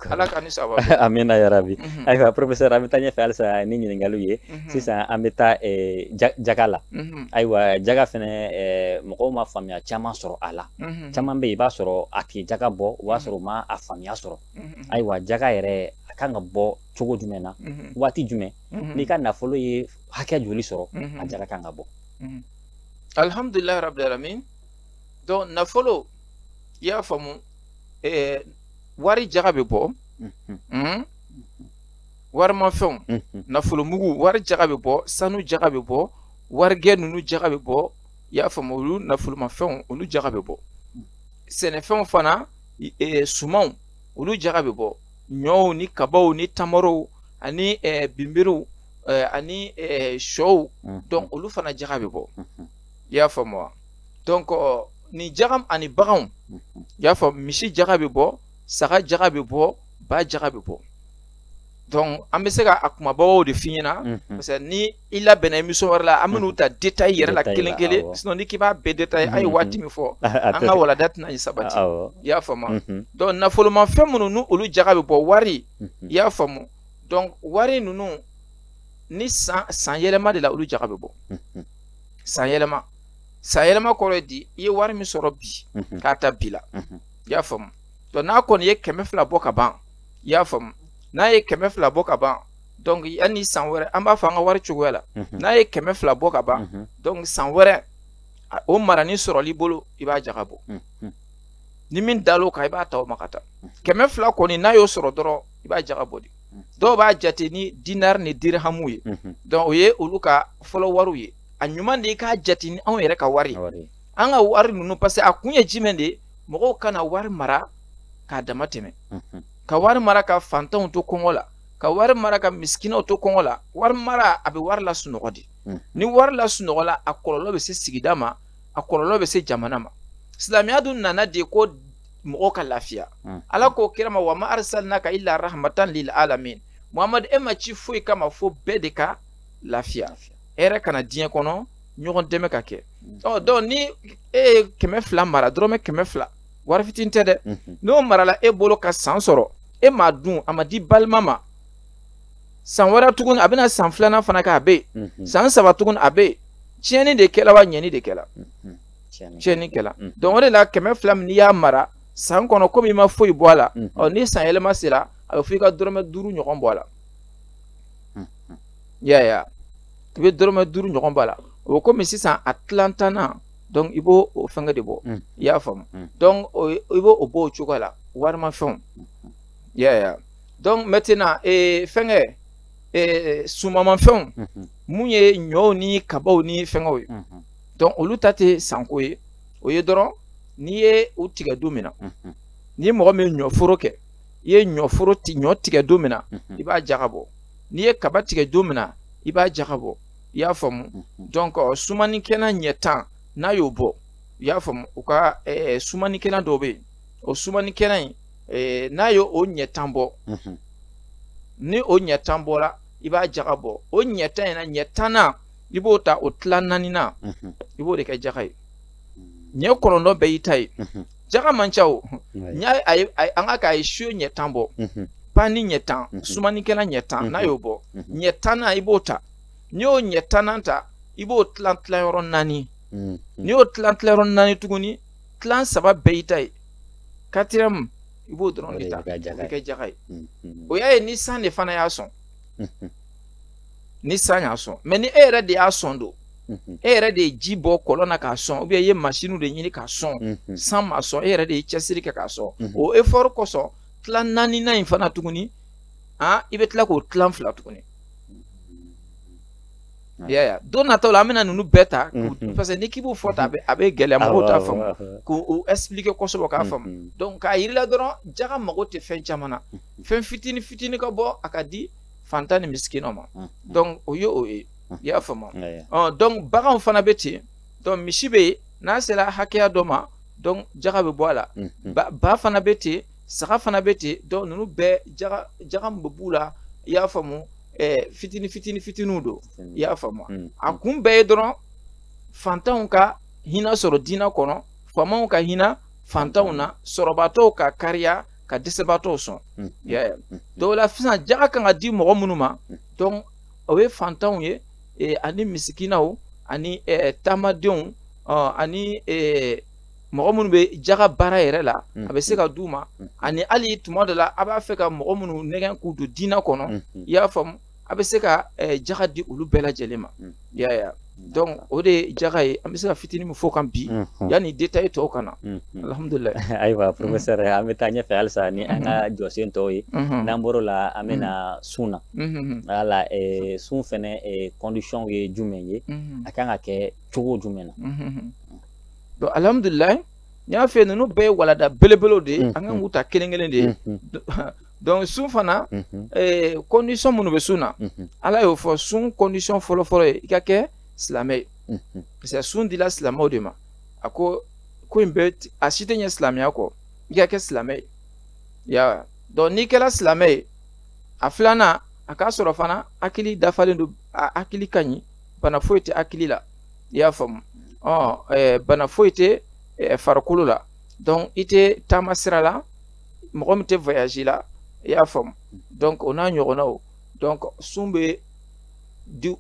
ala ka ni saba amina yarabi mhm. ayiwa professeur an bɛ taa ɲɛfɛ halisa ni ɲininkaliw ye mhm. sisan an bɛ taa eh, jaga la mhm. ayiwa jaga fɛnɛ eh, mɔgɔw ma faamuya caman sɔrɔ a la caman bɛ yen i b'a sɔrɔ a tɛ jaga bɔ o b'a sɔrɔ u ma a faamuya sɔrɔ ayiwa jaga yɛrɛ a kan ka bɔ cogo jumɛn na waati jumɛn n'i ka nafolo ye hakɛ joli sɔrɔ a jaga kan ka bɔ alhamdulilayi rabil alamin donc nafolo i y'a faamu ɛɛ wari jaga bɛ bɔ mhm. warimafɛnw mhm. nafolomugu wari jaga bɛ bɔ sanu jaga bɛ bɔ warigɛ ninnu jaga bɛ bɔ i y'a faamu olu nafolomafɛnw olu jaga bɛ bɔ sɛnɛfɛnw fana e, sumanw olu jaga bɛ bɔ ɲɔw ni kabaw ni tamarow ani e, binbiriw e, ani sɔw donc olu fana jaga bɛ bɔ i y'a faamu wa donc euh, ni jagam ani baganw i y'a faamu misi jaga bɛ bɔ saga jaga bɛ bɔ ba jaga bɛ bɔ donc an bɛ se ka a kumabaw de f'i ɲɛna mhm. parce que ni i labɛnna émission wɛrɛ la an bɛn'u mhm. ta détail yɛrɛ la kelen kelen sinon n'i k'i b'a bɛɛ détail an ye mhm. waati min fɔ an ka walanda tɛna ɲi sabati i y'a faamu donc nafolomafɛn minnu n'u olu jaga bɛ bɔ wari i y'a faamu donc wari ninnu ni san yɛlɛma de la olu jaga bɛ bɔ. san yɛlɛma san yɛlɛma kɔrɔ ye di i ye wari min sɔrɔ bi mhm. k'a ta bi la mhm. i y'a faamu donc n'a kɔni ye kɛmɛ fila bɔ ka ban i y'a faamu n'a ye kɛmɛ fila bɔ ka ban donc yanni san wɛrɛ an b'a fɔ an ka wari cogoya la mhm. n'a ye kɛmɛ fila bɔ ka ban donc san wɛrɛ o marani sɔrɔl'i bolo i b'a jaga bɔ ni min dal'o kan i b'a ta o ma ka taa kɛmɛ fila kɔni n'a y'o sɔrɔ dɔrɔn i b'a jaga bɔ de dɔw b'a jate ni dinar ni dirhamu ye donc o ye olu ka fɔlɔ wariw ye a ɲuman de i k'a jate ni anw yɛrɛ ka wari an ka wari ninnu parce que a kun ye jumɛn de ye mɔgɔw kana wari mara k'a dama tɛmɛ ka wari mara ka fantanw to kɔngɔ la ka wari mara ka misikinaw to kɔngɔ la wari mara a bɛ wari lasunɔgɔ de ni wari lasunɔgɔla a kɔlɔlɔ bɛ se sigida ma a kɔlɔlɔ bɛ se jamana ma silamɛya dun nana de ko mɔgɔ ka lafiya hmm. ala ko kira ma wa ma arsalnaka illa rahmatan lil alamin muhamadu e ma ci foyi kama fo bɛɛ de ka lafiya hɛrɛ ka na diɲɛ kɔnɔ ɲɔgɔn dɛmɛ ka kɛ hmm. ɔ donc ni e ye kɛmɛ fila mara dɔrɔmɛ kɛmɛ fila wari fitinin tɛ dɛ hmm. n'o marala e bolo ka san sɔrɔ e m'a dun a ma di balima ma san wɛrɛ tuguni a bɛna san filanan fana kɛ a bɛ yen san saba tuguni a bɛ yen tiɲɛni de kɛla wa ɲɛni de kɛla tiɲɛni kɛla mm. donc o de la kɛmɛ fila min n'i y'a mara san kɔnɔ komi i ma foyi bɔ a la mm. ɔ ni san yɛlɛma sera a bɛ fɔ i ka dɔrɔmɛ duuru ɲɔgɔn bɔ a la mm. ya ya i bɛ dɔrɔmɛ duuru ɲɔgɔn bɔ a la o bɛ komi sisan a tilan tan na donc i b'o o fɛngɛ de bɔ i y'a faamu donc i b'o o bɔ o cogoya la warimafɛnw ya ya donc maintenant ee fɛngɛ ee sumamafɛnw mun ye ɲɔw ni kabaw ni fɛngɛw ye. donc olu ta tɛ san ko ye o ye dɔrɔn n'i ye u tigɛ don min na mhm. ni mɔgɔ min ye ɲɔforo kɛ i ye ɲɔ tigɛ don min na mhm. i b'a jaga bɔ n'i ye kaba tigɛ don min na i b'a jaga bɔ i y'a faamu mhm. donc sumanikɛlan ɲɛ tan n'a y'o bɔ i y'a faamu u ka sumanikɛlan dɔw bɛ yen o sumanikɛlan in n'a ye o ɲɛ tan bɔ ni o ɲɛ tan bɔra i b'a jaga bɔ o ɲɛ tan in na ɲɛ tannan i b'o ta o tila naaninan i b'o de kɛ jaga ye ɲɛ kɔnɔntɔn bɛɛ y'i ta ye jaga man ca o n y'a an ka k'a ye su ɲɛ tan bɔ pani ɲɛ tan sumanikɛlan ɲɛ tan n'a y'o bɔ ɲɛ tannan i b'o ta n'i y'o ɲɛ tannan ta i b'o tilan tilan yɔrɔ naani n'i y'o tilan tilan yɔrɔ naani tuguni tilan saba bɛɛ y'i ta ye quatrième i b'o dɔrɔn de ta o bɛ kɛ jaga ye o y'a ye ni san de fana y'a sɔn ni san y'a sɔn mais ni e yɛrɛ de y'a sɔn don mhm. e yɛrɛ de ye ji bɔ kɔlɔn na k'a sɔn ou bien i ye masiniw de ɲini k'a sɔn mhm. san m'a sɔn e yɛrɛ de ye cɛsiri kɛ k'a sɔn mhm. o effort kosɔn tila naaninan in fana tuguni an i bɛ tila k'o tilan fila tuguni ya ya don nataw la an bɛna ninnu bɛɛ ta parce que n'i k'i b'o fɔ tan a bɛ gɛlɛya mɔgɔw t'a faamu k'o expliquer kosɛbɛ k'a faamu donc k'a yir'i la dɔrɔn jaga mago tɛ fɛn caman na fɛn fitini fitini ka bɔ a ka di fantan ni miskin ma mm, mm. donc o ye o ye mm. i y'a faamu ɔ donc baganw fana bɛ ten donc misi bɛ yen n'a sera hakɛya dɔ ma donc jaga bɛ bɔ a la ba, ba fana bɛ ten saga fana bɛ ten donc ninnu bɛɛ jaga jaga min bɛ b'u la i y'a faamu ɛɛ fitini fitini fitiniw don i y'a faamu a kun bɛɛ ye dɔrɔn fantanw ka hinɛ sɔrɔ diinɛ kɔnɔ faamaw ka hinɛ fantanw na sɔrɔbaatɔw ka kariya ka dɛsɛbaatɔw sɔn mm. yaya mm. donc o la sisan jaga kan ka di mɔgɔ minnu ma mm. donc o ye fantanw ye e, ani misikinaw ani e, taamadenw ani e, mɔgɔ minnu bɛ jaga baara yɛrɛ la a bɛ se ka d'u ma ani hali tuma dɔ la a b'a fɛ ka mɔgɔ minnu nɛgɛn k'u don diinɛ kɔnɔ i y'a faamu a bɛ se ka eh, jaga di olu bɛɛ lajɛlen ma mm. y'a ye mm. donc o de ye jaga ye an bɛ se ka fitini min fɔ kan bi mm-hmm. yanni détail tɔw ka na mm-hmm. alhamdulilayi ayiwa mm-hmm. professeur an bɛ taa ɲɛfɛ halisa ni an ka jɔsen tɔw ye n'an bɔr'o la an bɛna sun na wala eh, sun fɛnɛ eh, condition ye jumɛn ye a kan ka kɛ cogo jumɛn na donc alhamdulilayi n y'a fɛ ninnu bɛɛ ye walanda belebelew de ye an kan k'u ta kelen kelen de ye donc sun fana condition minnu bɛ sun na ala y'o fɔ sun condition fɔlɔfɔlɔ ye i ka kɛ silamɛ ye parce que sun dila silamɛw de ma a ko ko in bɛɛ a si tɛ ɲɛ silamɛya kɔ i ka kɛ silamɛ ye ya donc n'i kɛra silamɛ ye a filanan a k'a sɔrɔ fana hakili dafalen don a hakili ka ɲi bana foyi tɛ hakili la i y'a faamu ɔ bana foyi tɛ farikolo la donc i tɛ taama sira la mɔgɔ min tɛ voyage la i y'a faamu donc o n'a ɲɔgɔnnaw donc sun bɛ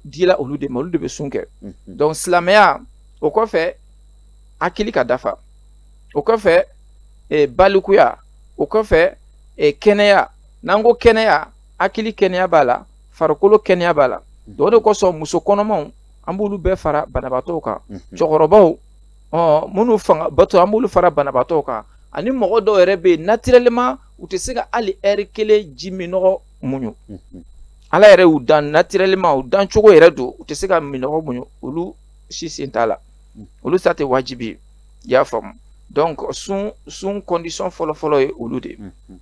dila olu de ma olu de bɛ sun kɛ donc silamɛya o kɔfɛ hakili ka dafa o kɔfɛ eh, balikuya o kɔfɛ eh, kɛnɛya n'an ko kɛnɛya hakili kɛnɛya b'a la farikolo kɛnɛya b'a la donc o de kosɔn muso kɔnɔmaw an b'olu bɛɛ fara banabaatɔw kan cɛkɔrɔbaw minnu fanga bantɔ an b'olu fara banabaatɔw kan ani mɔgɔ dɔw yɛrɛ bɛ yen naturellement u tɛ se ka hali heure kelen ji minnɔgɔ muɲu mhm. ala yɛrɛ y'u dan naturellement u dan cogo yɛrɛ don u tɛ se ka minnɔgɔ muɲu olu si sen t'a la mhm. olu ta tɛ wajibi ye i y'a faamu donc sun sun condition fɔlɔfɔlɔ ye olu de ye mhm.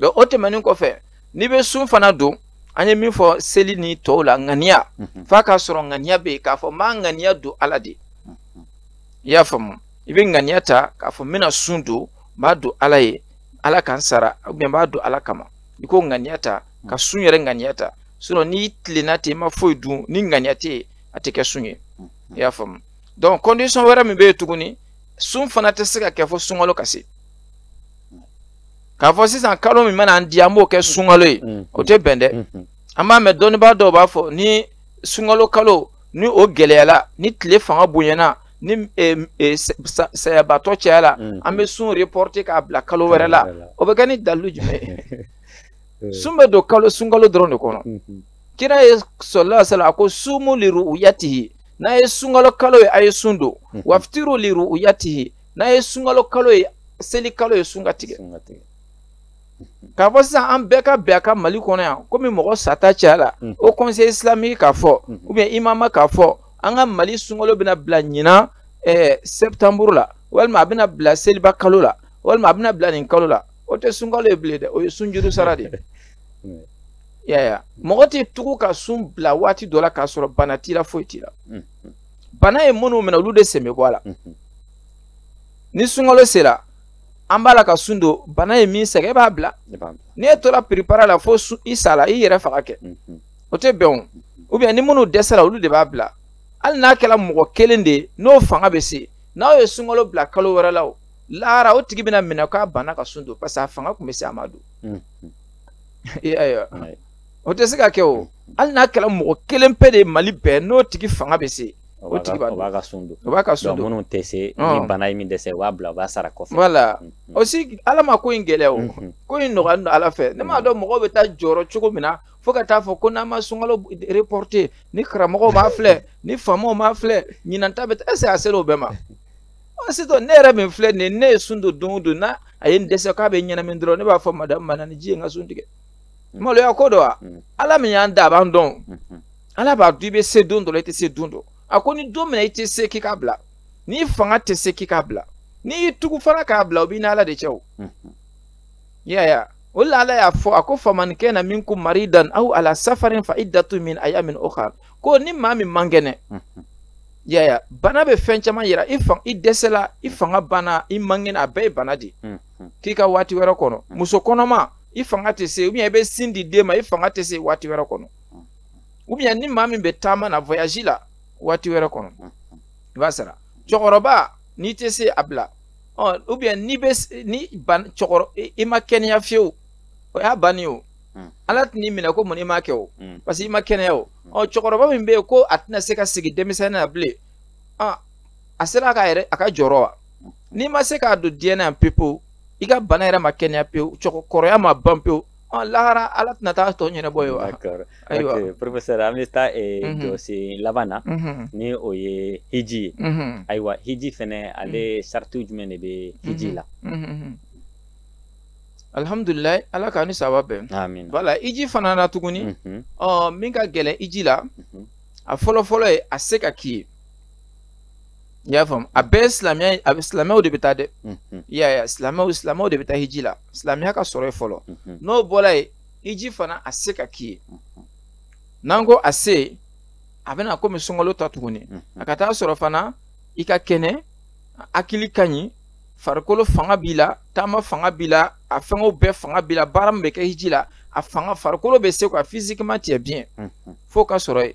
o tɛmɛnen kɔfɛ n'i bɛ sun fana don an ye min fɔ seli ni tɔw la ŋaniya mhm. f'a k'a sɔrɔ ŋaniya bɛ yen k'a fɔ n b'a ŋaniya don ala de mhm. i y'a faamu i bɛ ŋaniya ta k'a fɔ n bɛna sun don n b'a don ala ye ala ka n sara ou bien n b'a don ala kama i k'o ŋaniya ta ka mhm. sun yɛrɛ ŋaniya ta sinon n'i tilenna ten i ma foyi dun ni ŋaniya tɛ yen a tɛ kɛ sun ye i y'a faamu donc condition wɛrɛ min bɛ yen tuguni sun fana tɛ se ka kɛ fo sunkalo ka se k'a fɔ sisan kalo min mana an diya an b'o kɛ sunkalo ye o tɛ bɛn dɛ an b'a mɛn dɔnnibaa dɔw b'a fɔ ni sunkalo kalo ni o gɛlɛyala ni tile fanga bonyana ni sayabatɔ cayala an bɛ sun reporter k'a bila kalo wɛrɛ la o bɛ kɛ ni dalilu jumɛn ye sun bɛ don kalo sunkalo dɔrɔn de kɔnɔ kira ye sallallahu alaihi wasallam a ko sumu li ru'yatihi n'a ye sunkalo kalo ye a ye sun don waftiru li ru'yatihi n'a ye sunkalo kalo ye seli kalo ye sun ka tigɛ k'a fɔ sisan an bɛɛ ka bɛn a kan mali kɔnɔ yan komi mɔgɔ sata cayala mm. o conseil islamique k'a fɔ mm. ou bien imama k'a fɔ an ka mali sunkalo bɛna bila ɲinan eh, septembre la walima a bɛna bila seliba kalo la walima a bɛna bila nin kalo la o tɛ sunkalo ye bilen dɛ o ye sunjuru sara de ye mm. yaya mɔgɔ tɛ tugu ka sun bila waati dɔ la k'a sɔrɔ bana t'i la foyi t'i la bana ye minnu minɛ olu de sen bɛ bɔ a la mhm. ni sunkalo sera an b'a la ka sun don bana ye min sɛgɛn e b'a bila n'i e tora piripara la fo i sala i yɛrɛ faga kɛ mhm. o tɛ bɛn o mhm. ou bien ni minnu dɛsɛra olu de b'a bila hali n'a kɛra mɔgɔ kelen de ye n'o fanga bɛ se n'aw ye sunkalo bila kalo wɛrɛ la o lahara o tigi bɛna minɛ k'a banna ka sun don parce que a fanga tun bɛ se a ma don i y'a ye wa o tɛ se ka kɛ o hali n'a kɛra mɔgɔ kelen pe de ye mali bɛɛ n'o tigi fanga bɛ se o tigi b'a b'a ka sun don o b'a ka sun don minnu tɛ se ni bana ye min dɛsɛ u b'a bila u b'a sara kɔfɛ voilà aussi ala ma ko in gɛlɛya o ko in nɔgɔya don ala fɛ ne m'a dɔn mɔgɔw bɛ taa jɔrɔ cogo min na fo ka taa fɔ ko n'an ma sunkalo reporter ni karamɔgɔw m'a filɛ ni faamaw m'a filɛ ɲinan ta bɛ taa est-ce que a sera o bɛɛ ma sisan ne yɛrɛ min filɛ nin ye ne ye sun don don o don n'a ye n dɛsɛ k'a bɛ ɲɛnamini dɔrɔn ne b'a fɔ madamu ma na ni ji ye n ka sun tigɛ maloya ko don wa ala min y'an da a b'an dɔn ala b'a dɔn i bɛ se don dɔ la i tɛ se don dɔ a ko ni don min na i tɛ se k'i k'a bila n'i fanga tɛ se k'i k'a bila n'i y'i tugu fana k'a bila o b'i n'ala de cɛ o yaya o la ala y'a fɔ a ko faman kana minkum maridan aw ala safarin fa iddatu min ayyamin ukhar ko ni maa min man kɛnɛ yaya bana bɛ fɛn caman yira i fan i dɛsɛla i fanga banna i man kɛnɛ a bɛɛ ye bana de k'i ka waati wɛrɛ kɔnɔ muso kɔnɔma i fanga tɛ se ou bien i bɛ sin di den ma i fanga tɛ se waati wɛrɛ kɔnɔ ou bien ni maa min bɛ taama na voyage la waati wɛrɛ kɔnɔ i b'a sara cɛkɔrɔba n'i tɛ se a bila ɔ ou bien n'i bɛ ni ban cɛkɔrɔ i ma kɛnɛya fiyewu o y'a bannen o hmm. ala tɛn'i minɛ ko mun i m'a kɛ o hmm. parce que i ma kɛnɛya o hmm. ɔ cɛkɔrɔba min bɛ yen ko a tɛna se ka segin denmisɛnnin na bilen a sera a ka yɛrɛ a ka jɔrɔ wa n'i ma se k'a don diɲɛ na yan pepewu i ka bana yɛrɛ ma kɛnɛya pewu cɛkɔrɔya ma ban pewu ɔn lahara ala tɛna taa tɔ ɲɛnabɔ ye wa ayiwa ok professeur an bɛ taa jɔsen laban na ni o ye hiji ye ayiwa hiji fɛnɛ ale saratiw jumɛn de bɛ hiji la alihamudulilayi ala k'a ni saba bɛn wala hiji fana na tuguni ɔ min ka gɛlɛn hiji la a fɔlɔ fɔlɔ ye a se ka k'i ye i y'a faamu a bɛɛ ye silamɛya a bɛ silamɛw de bɛ taa dɛ i y'a ye silamɛw silamɛw de bɛ taa hiji la silamɛya ka sɔrɔ yen fɔlɔ n'o bɔra yen hiji fana a se ka k'i ye n'an ko a se a bɛna komi sunkalo ta tuguni a ka taa sɔrɔ fana i ka kɛnɛ hakili ka ɲi farikolo fanga b'i la taama fanga b'i la a fɛngɛw bɛɛ fanga b'i la baara min bɛ kɛ hiji la a fanga farikolo bɛ se ka physiquement tu es bien fo ka sɔrɔ yen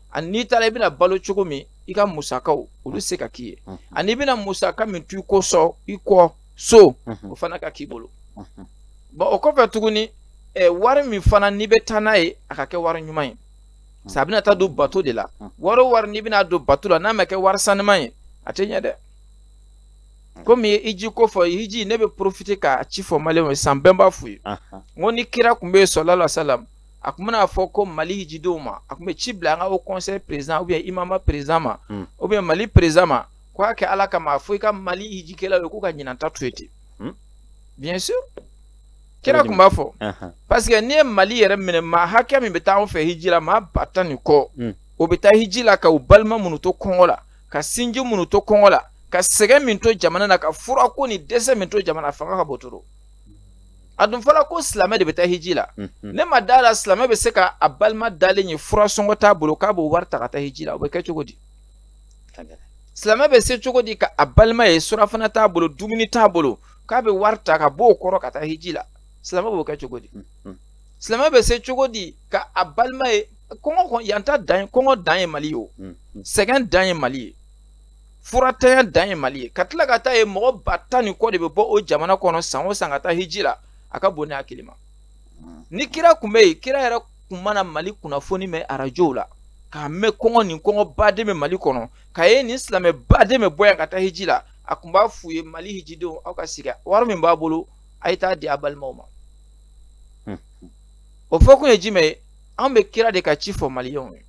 ani n'i taara i bɛna balo cogo min i ka musakaw olu se ka k'i ye mhm. ani i bɛna musaka min to i kɔ so i kɔ so mhm. o fana ka k'i bolo mhm. bon o kɔfɛ tuguni ɛ wari min fana n'i bɛ taa n'a ye a ka kɛ wari ɲuman ye sa a bɛna taa don bato de la wari o wari n'i bɛna don bato la n'a ma kɛ wari sanuman ye a tɛ ɲɛ dɛ komi i ye hiji ko fɔ hiji ne bɛ profiter k'a ci fɔ maliyɛnw ye san bɛɛ b'a f'u ye n ko ni kira tun bɛ yen sɔlala salam a tun bɛna fɔ ko mali hijidenw ma a tun bɛ ci bila an ka haut conseil président ou bien imama président ma mm. ou bien mali président ma ko a kɛ ala kama a fɔ i ka mali hijikɛlaw ye k'u ka ɲinanta to yen ten mm. bien sûr kira tun b'a fɔ parce que n'i ye mali yɛrɛ minɛ maa hakɛ min bɛ taa anw fɛ hiji la maa ba tan ni kɔ mm. o bɛ taa hiji la ka u balima minnu to kɔngɔ la ka sinji minnu to kɔngɔ la ka sɛgɛn min to jamana na ka furako ni dɛsɛ min to jamana fanga ka b'o kɔrɔ a dun fɔla ko silamɛ de bɛ taa hiji la ne ma da a la silamɛ bɛ se ka a balima dalen ye fura sɔngɔ t'a bolo k'a b'o wari ta ka taa hiji la o bɛ kɛ cogo di silamɛ bɛ se cogo di ka a balima ye surafana t'a bolo dumuni t'a bolo k'a bɛ wari ta ka b'o kɔrɔ ka taa hiji la silamɛ b'o kɛ cogo di silamɛ bɛ se cogo di ka a balima ye kɔngɔ yan ta dan ye kɔngɔ dan ye mali ye o sɛgɛn dan ye mali ye furatanya dan ye mali ye ka tila ka taa ye mɔgɔ ba tan ni kɔ de bɛ bɔ o jamana kɔnɔ san o san ka taa hiji la a ka bon ne hakili ma ni kira kun bɛ yen kira yɛrɛ kun mana mali kunnafoni mɛn arajow la k'a mɛn kɔngɔ nin kɔngɔ baden bɛ mali kɔnɔ k'a ye nin silamɛ baden bɛ bɔ yan ka taa hiji la a kun b'a f'u ye mali hijidenw aw ka sigi wari min b'a bolo a ye taa di a balimaw ma o fɔ kun ye jumɛn ye an bɛ kira de ka ci fɔ maliyɛnw ye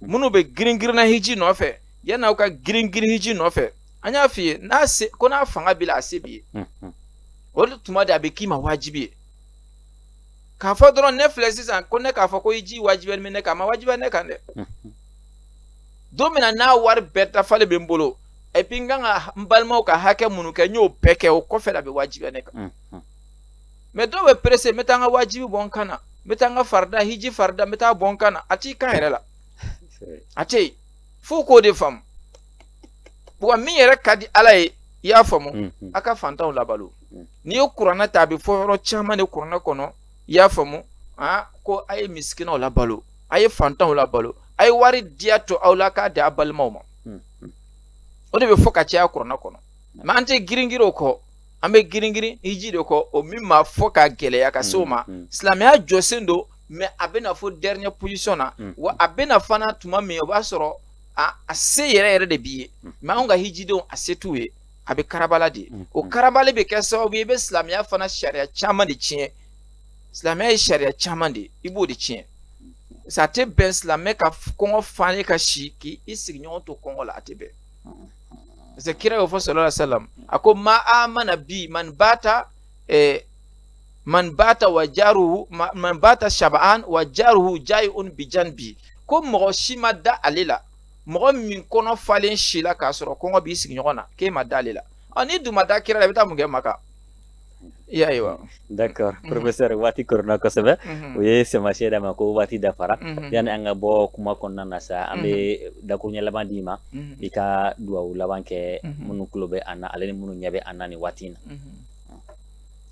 minnu bɛ girin girinna hiji nɔfɛ yan'aw ka girin girin hiji nɔfɛ an y'a f'i ye n'a se ko n'a fanga b'i la a se b'i ye mhm. o de tuma de a bɛ k'i ma wajibi ye k'a fɔ dɔrɔn ne filɛ sisan ko ne k'a fɔ ko hiji wajibiyalen bɛ ne kan a ma wajibiya ne kan dɛ mhm. don min na n'a wari bɛɛ dafalen bɛ n bolo et puis n kan ka n balimaw ka hakɛ minnu kɛ n y'o bɛɛ kɛ o kɔfɛ la a bɛ wajibiya ne kan mhm. mais dɔw bɛ pressé n bɛ taa n ka wajibi bɔ n kan na n bɛ taa n ka farida hiji farida n bɛ taa bɔ n kan na a t'i kan yɛrɛ la a tɛ yen f'u k'o de faamu wa min yɛrɛ ka di ala ye i y'a faamu mm-hmm. a ka fantanw labalo mm-hmm. n'i ye kuranna ta a bɛ fɔ yɔrɔ caman de kuranna kɔnɔ i y'a faamu a ko a ye misikinaw labalo a ye fantanw labalo a ye wari diya to aw la k'a di a balimaw ma mm-hmm. o de bɛ fɔ ka caya kuranna kɔnɔ mais an tɛ giringirin o kɔ an bɛ giringirin hiji de kɔ o min ma fɔ ka gɛlɛya ka se o ma silamɛya jɔsen don mais a bɛ na fo dernière position na mm. wa a bɛ na fana tuma min o b'a sɔrɔ a a se yɛrɛ yɛrɛ de b'i ye mm. mais anw ka hijidenw a se t'u ye a bɛ karabala de mm. o karabali bɛ kɛ sababu ye i bɛ silamɛya fana sariya caman de tiɲɛ silamɛya ye sariya caman de ye i b'o de tiɲɛ sa a tɛ bɛn silamɛ ka kɔngɔ falen ka si k'i i sigiɲɔgɔn to kɔngɔ la a tɛ bɛn parce que kira y'o fɔ sallallahu alaihi wa sallam a ko ma amana bi man bata eh, man bata wa jaruhu man bata shab'an wa jaruhu jai'un bi janbi ko mɔgɔ si ma da ale la mɔgɔ min kɔnɔ falen sila k'a sɔrɔ kɔngɔ b'i sigiɲɔgɔn na k'e ma da ale la ɔ n'i dun ma da kira la i bɛ taa mun kɛ maka i y'a ye wa d'accord mhm. professeur waati koronna kosɛbɛ mhm. u ye taamasiyɛ d'an ma ko waati dafara mhm. yanni an ka bɔ kuma kɔnɔna na sa an bɛ dakuruɲɛ laban d'i ma i ka duwawu laban kɛ minnu tulo bɛ an na ale ni minnu ɲɛ bɛ an na nin waati in na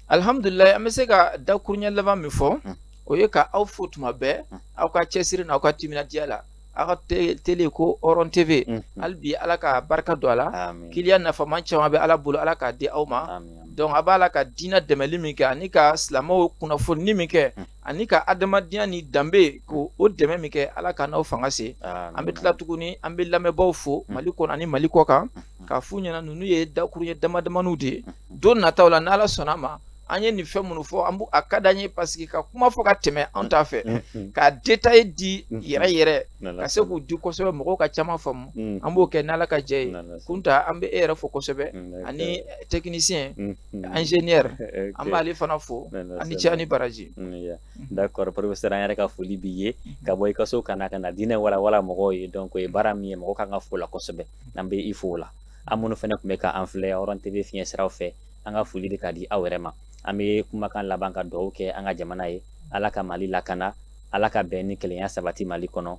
alihamudulilayi an bɛ se ka dakuruɲɛ laban min fɔ hmm. o ye ka aw fo tuma bɛɛ hmm. aw ka cɛsiri n'aw ka timinandiya la aw ka tele ko hɔrɔn tv hmm. hali bi ala ka barika don a la kiliyan nafama caman bɛ ala bolo ala k'a di aw ma donc a b'a la ka diinɛ dɛmɛli min kɛ ani ka silamɛw kunnafoni min kɛ ani ka adamadenya ni danbe ko o dɛmɛ min kɛ ala ka n'aw fanga se an bɛ tila tuguni an bɛ lamɛnbaaw fo mm. mali kɔnɔ ani mali kɔkan mm-hmm. k'a f'u ɲɛna ninnu ye dakuruɲɛ damadamaniw de ye mm-hmm. don nataw la n'ala sɔnn'a ma an ye nin fɛn minnu fɔ an a ka d'an ye parce que ka kuma fɔ ka tɛmɛ an t'a fɛ mm-hmm. ka détail di yɛrɛ yɛrɛ ka se k'u di kosɛbɛ mɔgɔw ka caman faamu mm. an b'o kɛ n'ala ka jɛn ye kunta an bɛ e yɛrɛ fo kosɛbɛ ani tɛkinisiyɛn Mm. ingénieur an b'ale fana fo a ni ce a ni baraji mm, mm-hmm. d'accord professeur an yɛrɛ ka foli b'i ye mm-hmm. ka bɔ i ka so ka na ka na diinɛ walawala mɔgɔw ye donc o ye baara min ye mɔgɔ kan ka fo la kosɛbɛ mm-hmm. an bɛ i fo o la ani minnu fana tun bɛ ka an filɛ hɔrɔn tv fiɲɛ siraw fɛ an ka foli bɛ ka di aw yɛrɛ ma an bɛ kumakan laban ka dugawu kɛ an ka jamana ye ala ka mali lakana ala ka bɛn ni kelenya sabati mali kɔnɔ